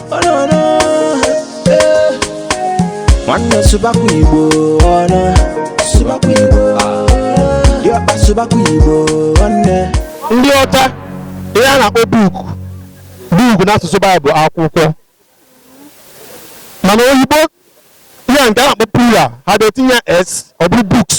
Oh, no, no. Eh. nwanne sụbakwa igbo ọnụ sụbakwa igbo dịọkpa sụbakwa igbo nwanne ndị ọcha ihe a na-akpọ book book n'asụsụ be anyị bụ akwụkwọ mana oyibo ihe a nke a na-akpọ plural ha ga-etinye s ọ bụrụ books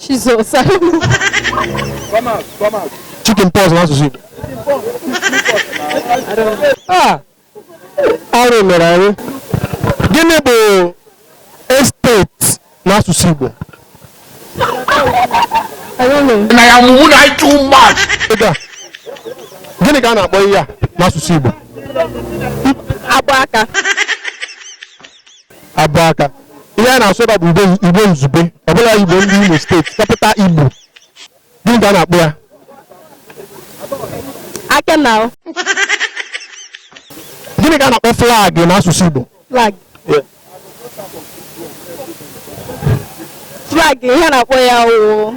Jizọs chicken pox n'asụsụ Igbo Ah, arụ mere anyị gịnị bụ estate n'asụsụ Igbo na ya mụmụ na anyị too much Ego a. gịnị ka a na-akpọ ihe a n'asụsụ Igbo agba aka abụ aka ihe a na-asụ ebe a bụ igbo igbo izugbe ọ bụla igbo ndị imo steeti capital igbo gịnị ka a na-akpọ ya aka na ahụ gịnị ka a na-akpọ flag n'asụsụ igbo flag flag ihe a na-akpọ ya wụ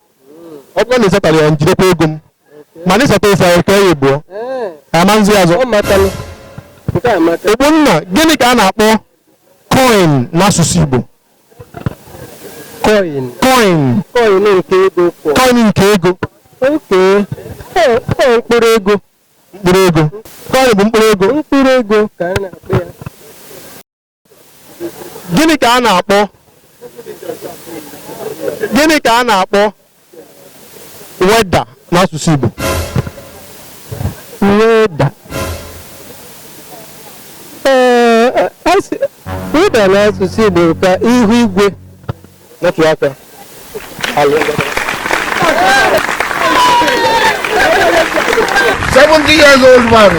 ọ bụrụ na ị zatarọ ya m jidekwa ego m mana ị zata ịsa ya ka ya egbuo ama nzi azụ ogbonna gịnị ka a na-akpọ koin n'asụsụ igbo coin coin nke ego mkpụrụ ego mkpụrụ ego coin bụ mkpụrụ ego mkpụrụ ego ka a na-akpọ ya gịnị ka a na-akpọ gịnị ka a na-akpọ weda n'asụsụ Igbo weather ee weather n'asụsụ Igbo ka ihu igwe napụ aka seventy years old man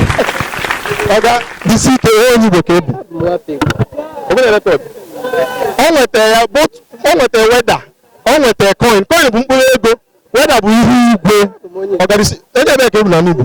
ọga jisi ike ihe onye ebe ka ị bụ obere record ọ nwetara ya both ọ nwetara weather ọ nwetara coin coin bụ mkpụrụ ego weather bụ ihu igwe ọga jisi onye ebe ka ị bụ na n'igbo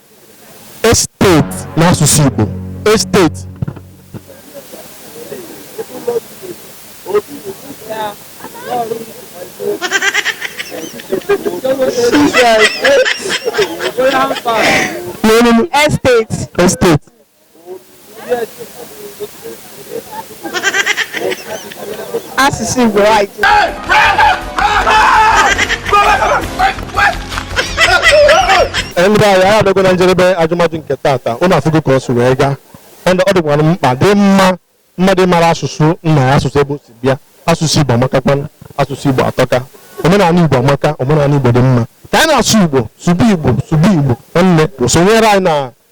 Estate n'asụsụ Igbo. Estate. Estate. Estate. asụsụ Igbo right. ndị be anyị anyị abịago na njedebe ajụmajụ nke tata unu afụgo ka ọ si wee gaa ọ dị- ọ dịkwara m mkpa dị mma mmadụ mara asụsụ nna ya asụsụ ebe o si bịa asụsụ igbo amakakwana asụsụ igbo atọka omenala igbo amaka omenala igbo dị mma ka anyị na-asụ igbo sụba igbo sụba igbo nwanne sonyere anyị na